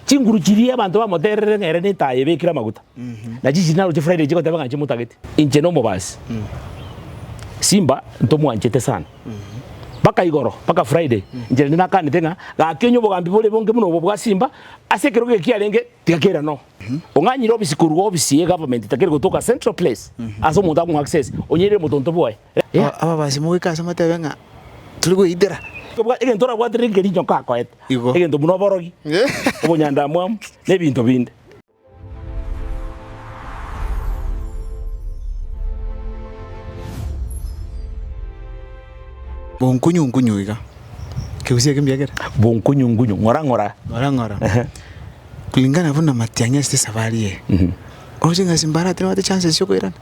Chinguru chiria abanto bamotererere ng'a ere netaaya ebekire amaguta, na chinchiri naro chifuraire chigoteba ng'a nchimotagete, inche nomobasi, Simba ntomwanchete sana. Mpaka igoro, mpaka Friday, inche naende nakanete ng'a gaki onye obogambi bore bonge buna obo bwa Simba, ase ekero geke kiarenge, tiga kera noo. Ong'anyire obisi korwa obisi ye government, takeri gotoka central place, ase omonto akomoa access, onyeire motonto bwaye. Ababasi mogoika ase motebe ng'a, Tore gweitera. Kobua egento orabwate reke riinche nko akoete, egento buna oborogi, obonyandamwamu, na ebinto binde. Bonkunyu nkunyu iga. Ekegusi eke mbiagera. Bonkunyu nkunyu, ng'ora ng'ora. Ng'ora ng'ora. Kulingana buna amatiang'i ase esafari eye, oroche ng'a ase mbare atari babwate chances cia okoirana.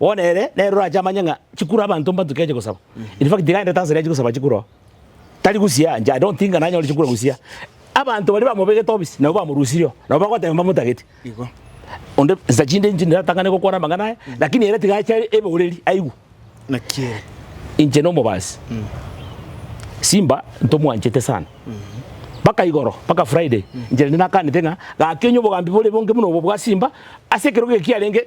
Bono ere nere orache amanye ng'a chikuro abanto mbatuke ache gosaba. In fact tiga aende tanzania ache gosaba chikuro. Tari gusya inche I don't think ng'ana anyore chikuro gusya. Abanto baria bamobegete obisi nabo bamorusirie oo. Nabo bagoteba mbamotageti. Igo. Onde nsa chinde inche ndiratang'ane gokwana amang'ana aya lakini ere tiga ache eboreri aigwe. Naki ere. Inche na omobasi. Simba ntomwanchete sana. Mpaka igoro mpaka Friday inche naende nakanete ng'a gaki onye obogambi bore bonge buna obo bwa Simba ase ekero geke kiarenge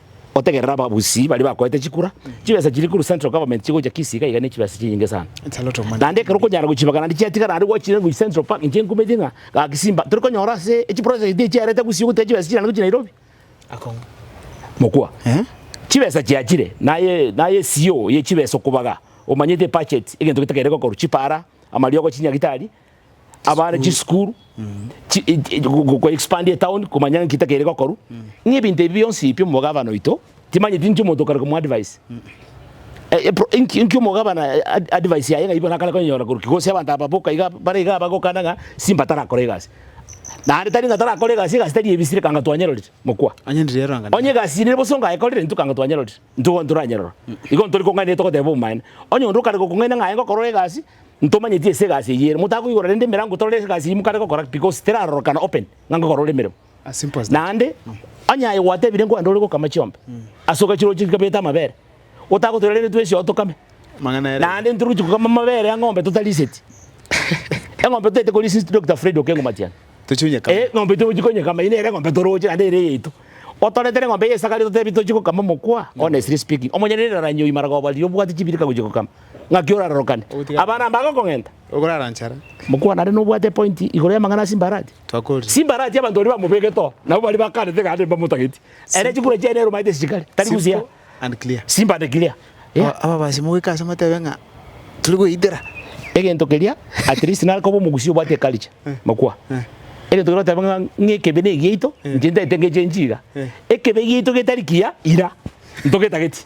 Otegerere ababusii baria bakoete chikura, chibesa chiria korwa Central Government chigocha Kisii iga iga nechibesa chinyinge sana. Naende ekero okonyara gochibagana naende chiatigara naende gwachiire gochia Central Park inche nkumeti ng'a gaki simba tori konyora ase echi project echi chiarete Gusii ogoteba chibesa chiria naende gochia Nairobi. Mokwa. Chibesa chiachire naye naye CEO ye chibesa okobaga omanyete budget egento getakeire gokorwa, chipara, amariogo, chinyagitari. abare chisukuru expandia etown komanya ng'aki takere gokoru ng'a ebinto ebi bionsi pi omogabana oito timanyeti inche omonto okare komwa advice inki eh, omogabana advice yaye ng'ai bono akare konyora korwa ki gose abanto aba boka iga bare iga bagokana ng'a simba tarakora egasi naende tari ng'a tarakora egasi egasi tari ebisi reka ng'a twanyerorire mokwa onye egasi ere bosa ongayekorire intwe ekanga twanyerorire intwe bono toranyerora igo ntori kong'aini togoteba obomaene onye onde okare gokong'aina ng'aye ngokorora egasi. Ntomanyeti ase egasi eyio ere. Motakoigora rende emerango torore ase egasi eyio mokare gokora because terarorokana open ng'a ngokora ore emeremo. As simple as that. Naende onye aye gwatebire nkwande ore gokama chiombe ase ogachire oche chikabete amabere otagotoira rende twensi oo tokame. Amang'ana ere. Naende ntoroche gokama amabere ya ng'ombe totariseti. Eng'ombe totaete korisia insti Doctor Fred Okengo Matiang'i. Tochie onyekame. Eeh ng'ombe ito tochie konyekama eye nere eng'ombe toroche naende ere eyaito. Otoretere eng'ombe eye esakare totebi tochie gokama mokwa honestly speaking. Omonyenereri naranyie oyio maragoba riria obwate chibirika gochia gokama. Ng'aki orarorokane? Abana aba bagokong'enta? Okorara nchara? Mokwana are nobwate epointi igoro y'amang'ana a Simbarati. Twakori. Simbarati abanto baria bamobegete oo nabo baria bakanete gane mbamotageti. Ere chikura chiaye nerumaete ase chikari, tari gusea. Simple and clear. Simple and clear. Yeah. Aba- Ababasi mogoika ase motebe ng'a tore goitera. Egento keria at least nare koba omogusii obwate eculture. Mokwa. Egento keria oteba ng'a ng'a ekebe negiaito, inche ntaete ngechenchi iga. Ekebe giaito getari kiya, ira. Ntogetageti.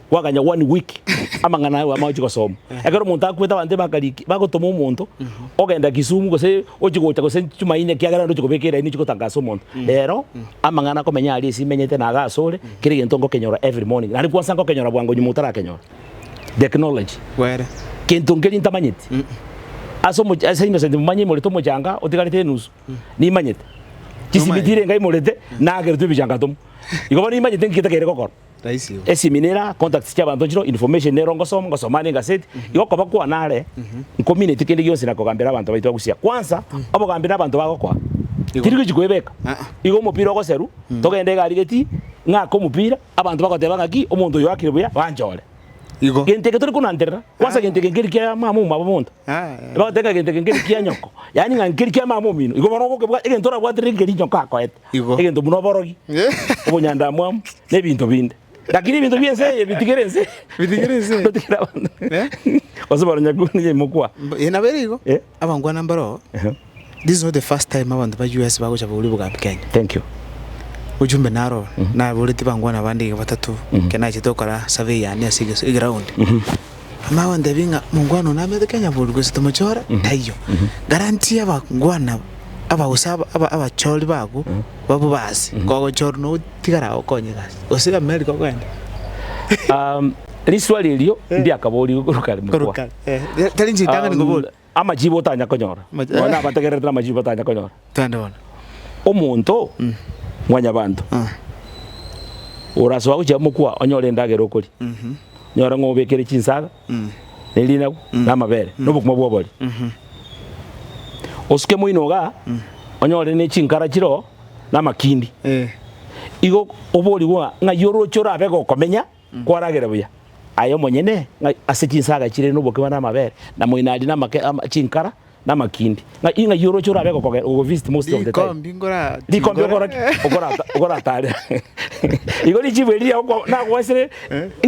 Gwakanya one week amang'ana aye bwamanya gochia gosoma. Ekero omonto akwete abanto bakariki bagotoma omonto ogenda Kisumu gose ochie gocha gose Jumaine ekiagera ndochie kobeka eraini ochie gotangasa omonto. Rero amang'ana akomenya aria ase imenyete na iga asore kera egento ngokenyora every morning. Naende kwansa ngokenyora bwango nyuma otarakenyora. Technology. Kwere. Gento nkeria ntamanyeti. Ase omoch ase innocent momanye imorete omochanga otigarete enusu. Nimanyete. Chisimiti ire enga imorete nageretwe ebichanga tomo. Igo bono nimanyete ng'iki takere gokora. Eseminera, contacts chiabanto nchiro, information nero ngosoma, ngosoma aria egaseti, igo okoba kwane are nkomineti kende gionsi na kogambera abanto baito bagusia. Kwanza, obogambi na abanto bagokoa, tiri gochi koebeka. Igo omopira ogoseru, togende egari geti, ng'ake omopira, abanto bagoteba ng'aki, omonto oyo oakire buya, banchore. Gento eke tori konanterera, kwanza gento eke nkeri kia mama omwabo monto. Bagoteba ng'a gento eke nkeri kia nyoko, yaani ng'a nkeri kia mama omino. Igo bono ogokebwata, egento orabwaterere nkeri nyoko akoete. Igo. egento buna oborogi, obonyandamwamu, na ebinto binde. Lakini ebinto bi'ense eye bitigere ense, Bitigere ense eye. totigere abanto, Eh? gose baronyaku ninye imokwa. Mb- eh, nabo ere igo Eh. abangwana mbaroo Ehe. this is not the first time abanto ba us bagocha bauri obogambi kenya Thank you. ojumbe naro naboreti bangwana abande iga batato ekero nachete gokora survey yane ase eges- eground Amanye gontebia ng'a mongwana one amete Kenya boru gose tomochore, taiyo. Guarantee abangwana abwo, aba gose aba- aba- abachori bago babu ba ase, kogochorwa na ogotigara agokonye gasi. Gose America okogenda. Um, riswali erio ndiakaboorire korwa kare mokwana. Korokare. Eh, tari inche ritang'ani Um, koboria. Amachibi otanya konyora. Amachi- Nonya abategererete namachibi batanya konyora. Twende bono. Omonto mwanyabanto orasoa gochia mokwa onyore endagera okoria, nyora ng'a obekire chinsaga, na erinagu, na amabere, na obokima bw'obori. Osuke moino igaa, onyore ne chinkara chire oo, na amakindi. Eh. Igo oborigwe ng'a ng'ai oroche orabe gokomenya. Nkwaragera buya aye omonyene ng'a ase chinsaga chire nobokima na amabere, na moinadi na amake, ama, chinkara na amakindi, ng'a i ng'ai oroche orabe gokogera, gogovisit most of the time? Rikombi ngora Rikombe okora ki? chingore. Okorata, okoratare. Igo richibu eri riago kwa- nagoesire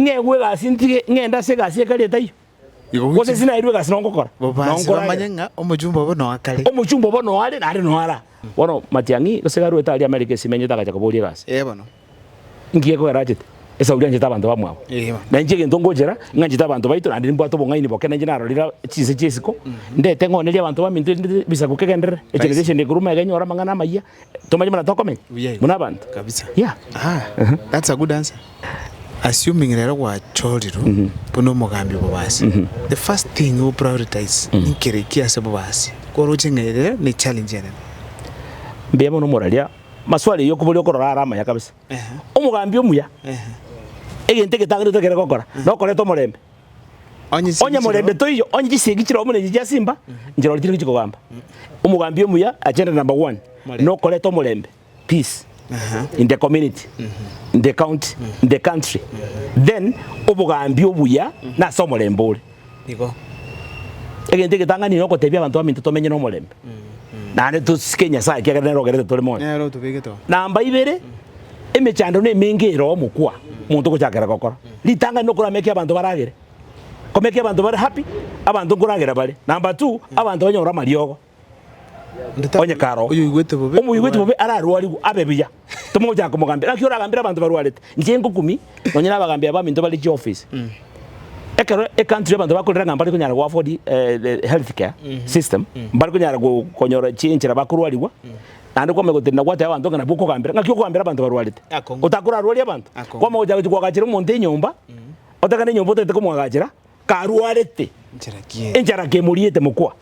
ng'egwe egasi ntige, ng'ende ase egasi ekare etaiyo. Gose inse nairwe egasi nongokora, Bobaase bamanye nongoragera. ng'a omochumba obo noa kare. Omochumba obo noa are, naare noa ara. Bono Matiang'i, gose gari oete aria Amerika ase emenyete agacha koboria egasi. Ee bono. Inki gekogera achete? Esauri anchete abanto bamwabo. Ee bono. Na inche egento ngochera, ing'anchete abanto baito naende nimbwate obong'aini boke na inche narorire a- chinse chi'esiko, ndete ng'onerie abanto baminto erinde ebisaku kegenderere, ekerecha echende ekorwa maega enyore amang'ana amayia, Tomanye buna tokomenya Buya igo. buna abanto. Kabisa. Yeah. Ah, Aha. that's a good answer. Assuming rero gwachorirwe Mhm. buna omogambi obobasi. Mhm. The first thing o prioritize Mhm. nkere ki ase obobasi? Koroche ng'a ere rero ne challenge enene. Mbuya mono moraria maswali eyio kobori okorora are amaya kabisa. Ehe. Omogambi omuya Ehe. egento egetangereto ekere gokora Aha. nokoreta omorembe. Onye morende toiyo, onye chisegi chire omonene chichia ase imba, nchirore chire gochikogamba. Omogambi omuya, agenda number one, nokoreta omorembe, peace, in the community, in the county, in the country. Then obogambi obuya nase omorembe ore. Egento egetang'ani nogotebia abanto baminto tomenye nomorembe. naende tosike Nyasae ekiagera nere ogerete tore moyo. Nere otobegete oo. Namba ibere, emechando nemenge ere omokwa omonto ogochakera gokora. Ritangani nokora make abanto baragere. Ko make abanto bare happy, abanto nkoragera bare. Namba two, abanto banyore amariogo. Onye kare oo. Oyoigwete bobe. Omoigweti bobe ararwarigwe abe buya. Tomogochaka komogambera, gaki oragambere abanto barwarete. Inche ngokumia nonye nabagambi abaminto bare chiofisi. Ekero ecountry abanto bakorera ng'a mbare konyara goafford the health care system, mbare konyara konyora chinchera bakorwarigwa, naende kwamanya gotiri nagwate abanto ng'a nabwo okogambera, ng'aki okogambera abanto barwarete? Otakorarwarie abanto? Kwamanya gochaka gochia koagachera omonto enyomba, otagane enyomba otagete komoagachera, karwarete, enchara kemoriete mokoa.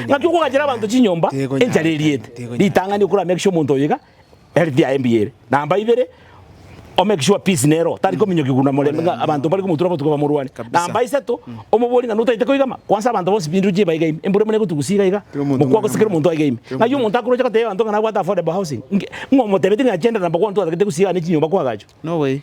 Ng'aki okoagachera abanto chinyomba enchara eriete? Ritang'ani okoramake sure omonto oyo iga, health yaye mbuya ere. Namba ibere, o make sure peace nere oo, tari mm. kominyokigwa na morembe ng'a abanto mbare komotura botuko bamorwane. Namba isato, mm. omobori ng'a notaete koiga ma, kwansa abanto bonsi bindu chie baiga ime, embura muna gotugusia iga iga, mokwa gose kera omonto aiga ime. Ng'ai omonto akoroche gotebia abanto ng'a nabwate affordable housing, ng'a omotebeti ng'a chende namba gwantu atagete gusiga gane chinyomba kwagacho. No way.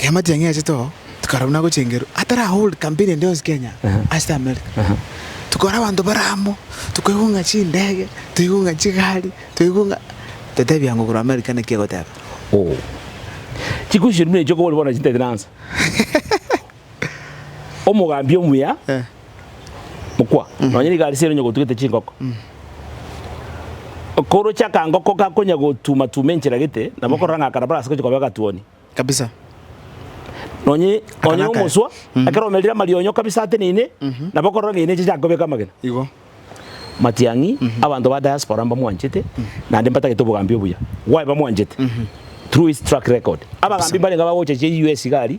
Eamatiang'i aye too tikarabwo nagochengero atari ahold campaign ende yonsi Kenya ase America tokore abanto bare amo tokoigwa ng'a chindege toigwe ng'a chigari toigwe ng'a totebiaa ng'a korwa America naki egoteba. Chikusi chiria buna echio okobori bono chintaitinansa. Omogambi omuya mokwa, nonya nigo arisire onye gotugete chinkoko. Okoroche akangoko gakonya gotuma tuma enchera gete, nabo okorora ng'a aka nabo arase gochia koba egatuoni. Kabisa. Nonye nonye omoswa, ekero omerire amarionyo kabisa ateneine, nabo okorora ng'a eneche chiago kobeka amagena. Igo. Matiang'i, abanto ba diaspora mbamwanchete, naende mbatagete obogambi obuya. Why bamwanchete? Through his track record. Abagambi mbarenge abagocha chia US iga aria.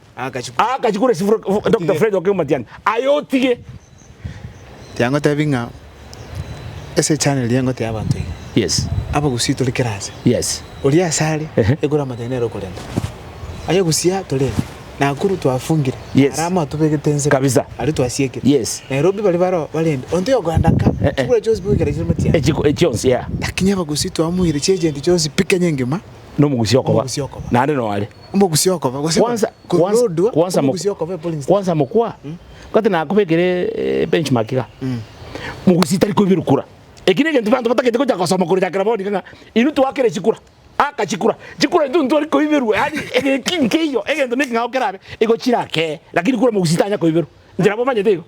Agachikura esifura Dokita Fred oke omatiangi aye otige. Tiangotebi ng'a ase echannel eye ngotea abanto iga. Yes. Abagusii tore kera aase. Yes. Oria aase are ekore amate nere okorenta. Aye ogusia tore ime. Nakuru twafungire. Yes. Ara amo atobegete ensemo. Kabisa. Aria twasiekire. Yes. Nairobi bari baroo barende. Onto yokogenda ka. Eh. Chibura chionsi bigokera chire omatiangi. Echiko echionsi yeah. Lakini abagusi twamuire chiagent chionsi pi Kenya engima. Nomugusi okoba. Nomugusi okoba. Naende noo are. Omogusi okoba, gose Kwanza, korwa kwanza, Lodwar, kwanza, mok- omogusi okoba e polling station. kwanza mokwa kati nakobekere eh, benchmark iga mogusi tari koiberwa kura eki negento abanto batagete gocha gosoma korechakera bono iga ng'a inwe twakere chikura aka chikura chikura intwe ntitwari koiberwa yaani egeki nkeiyo egento neki ng'ao kerabe igo chirakee lakini kura mogusi tanya koiberwa inche nabo omanyete igo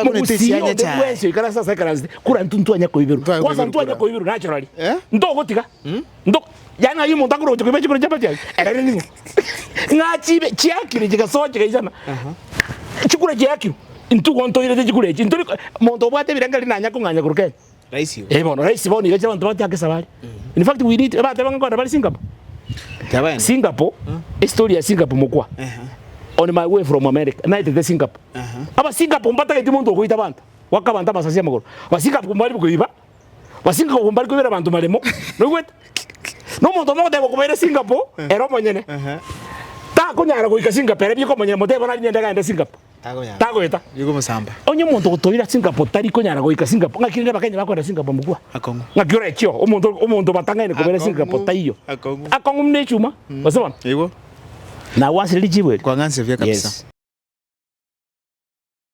Mogusi onde bwensi oikare ase as'aikaransete kor'aintwe ntwanye koiberwa, kwasa ntwanye koiberwa nachora ri, ntogotiga, nto Yaani ng'ai omonto akoroche koiba chibero chia Batiari? Erere ning'o? Ng'a chibe chiakire chigasoa chigaisana, chikure chiakirwe, intwe igo ntoirete chikure echi, ntori monto obwate ebirengererio nanya kong'anya korwa kenya. Raisi igo. Eh bono raisi bono iga chire abanto batiake esabari. In fact we need ebateba ng'a kore bari Singapore. Tebaene. Singapore, Mm. history ya Singapore mokwa. Ehe. On my way from America, naetete Singapore. Aha. Aba Singapore mbatageti monto okoita abanto, goaka abanto amasasi amagoro. Ba Singapore mbari koiba, ba Singapore mbari koibera abanto maremo. Noigwete? Na omonto omo ogoteba okobaira Singapore, ere omonyene. Aha. Takonyara goika Singapore, ere bieka omonyene motebe bono ari nende egari ende Singapore. tagoeta. Onye omonto ogotoira Singapore tari konyara goika Singapore, ngaki rende Abakenya bakoenda Singapore mokwa? Ngaki ore ekio, omonto obatang'aine kobera Singapore taiyo. Akong'u buna echuma, gose bono? Nagwanserire richibu erio? Yes.